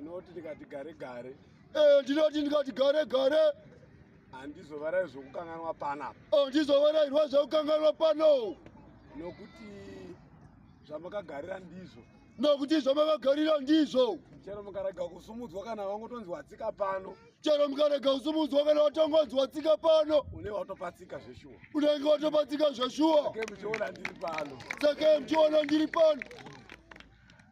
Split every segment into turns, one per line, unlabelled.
ndinoti ndikati gare gare eh, ndinoti ndikati
gare gare handizovarai
zvokukanganwa panapa oh, ndizovarairwa
zvokukanganwa pano nokuti
zvamakagarira ndizvo nokuti
zvamakagarira ndizvo chero mukarega
kusumudzwa kana vangotonzwa tsika pano chero mukarega
kusumudzwa kana vatongonzwa tsika pano unenge watopatsika
zveshuwa unenge watopatsika
zveshuwa sake muchiona ndiri
pano sake muchiona
ndiri pano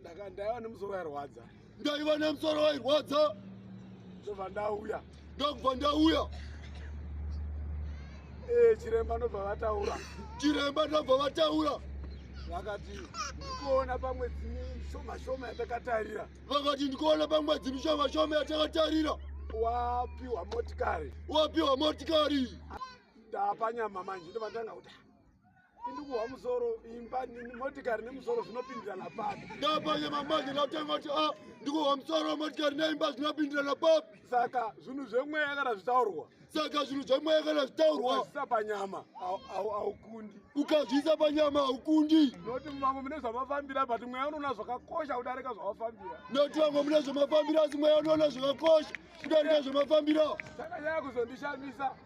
ndaka ndaiva nemusoro wairwadza ndaiva nemusoro
wairwadza ndobva
ndauya ndakubva ndauya ee eh, chiremba ndobva vataura chiremba ndobva
vataura vakati
ndikuona pamwe dzimi shoma shoma yatakatarira vakati ndikuona
pamwe dzimi shoma shoma yatakatarira wapiwa
motikari wapiwa motikari
ndapanyama
manje ndobva ndanga kuti indikuhwa musoro imba motikari nemusoro zvinopindirana papi ndapanye mambanje
ndatenga kuti a ah, ndikuhwa musoro motikari neimba zvinopindirana papi saka zvinhu
zvemweya kana zvitaurwa saka zvinhu zvemweya
kana zvitaurwa ukazviisa panyama
haukundi ukazviisa
panyama haukundi noti vamwe mune
zvamafambira but mweya unoona zvakakosha kudarika zvamafambira noti vamwe mune
zvamafambira asi mweya unoona zvakakosha kudarika zvamafambira saka nyaya
kuzondishamisa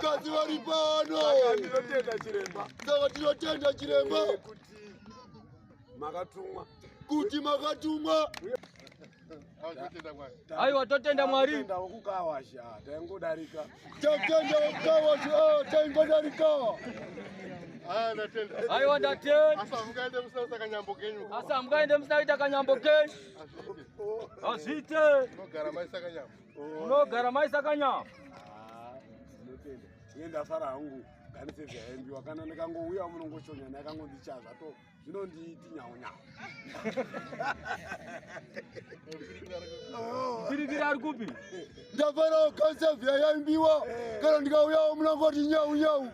Kazi vari pano.
Saka ndinotenda
chiremba. Saka ndinotenda
chiremba. Eh, kuti
makatumwa. Kuti
makatumwa. Aiwa totenda Mwari. Totenda wokukawasha.
Taingodarika. Totenda
wokukawasha. Oh, taingodarika. Ah,
ndatenda. Aiwa ndatenda. Asa mukaende musina kuita
kanyambo kenyu. Asa mukaende musina kuita
kanyambo kenyu. Azvite. Azvite. Unogara maisa kanyambo. Unogara mai sakanya. Ah, ndinotenda.
Ine ndafara hangu ganise zvaimbiwa kana ndikangouya munongochonya naye kangondichaya zvato zvinondiiti nyawo nyawo.
Piripiri ari kupi? Ndafara
ganise zvaimbiwa eh. kana ndikauya munongoti nyawu nyawu.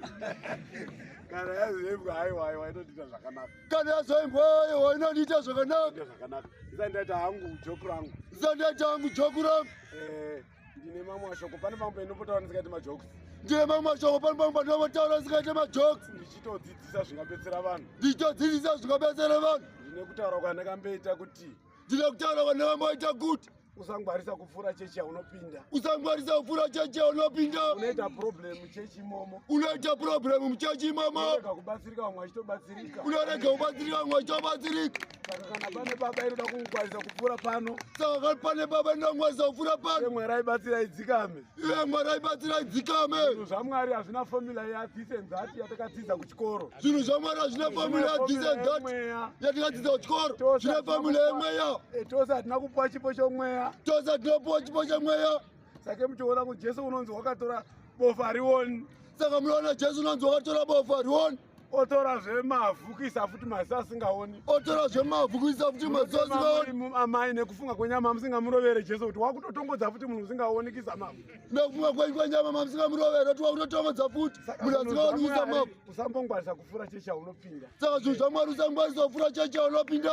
Kana yazimbwa haiwa haiwa inotiita zvakanaka. kana yazoimbwa
yoyo inondiita zvakanaka zvakanaka isandaita
hangu joku rangu isandaita hangu joku
rangu eh, ndine
mamwe mashoko pane mamwe painopotaura ndisikaite majoks ndine mamwe mashoko
pane mamwe painopotaura ndisikaite majoks ndichitodzidzisa
zvingabetsera vanhu ndichitodzidzisa zvingabetsera
vanhu ndine kutaura
kwandakambeita kuti ndida kutaura vana
vamaita kuti usangwarisa kupfuura
chechi yaunopinda usangwarisa kupfuura
chechi yaunopinda unoita problem
muchechi imomo unoita problem
muchechi imomo unorega kubatsirika vamwe
vachitobatsirika unorega kubatsirika
vamwe vachitobatsirika saka kana pane
baba inoda kukungwarisa kupfuura pano saka kana pane baba
inoda kungwarisa kupfuura pano mwerai batsira
idzikame Iye Mwari aibatsirai
dzikame. Zvinhu zvaMwari hazvina
formula ya this and that yatakadzidza kuchikoro. Zvinhu zvaMwari hazvina
formula ya this and that yatakadzidza kuchikoro. Zvine formula yemweya. Eh, tose hatina kupuwa
chipo chomweya. Tose hatinopuwa
chipo chemweya. Sake muchiona
kuti Jesu unonzi wakatora bofa rioni. Saka munoona Jesu
unonzi wakatora bofa rioni. otora
zvemavhu kuisa futi maziso asingaoni otora zvemavhu
kuisa futi maziso asingaoni amai nekufunga
kwenyama musingamurovere jesu kuti wakutotongodza futi munhu usingaoni kuisa mavhu nekufunga kwenyu kwenyama
mamusingamurovere kuti wakutotongodza futi munhu asingaoni kuisa mavhu usambongwarisa kufura checha unopinda saka zvinhu
zvamwari
usangwarisa kufura checha unopinda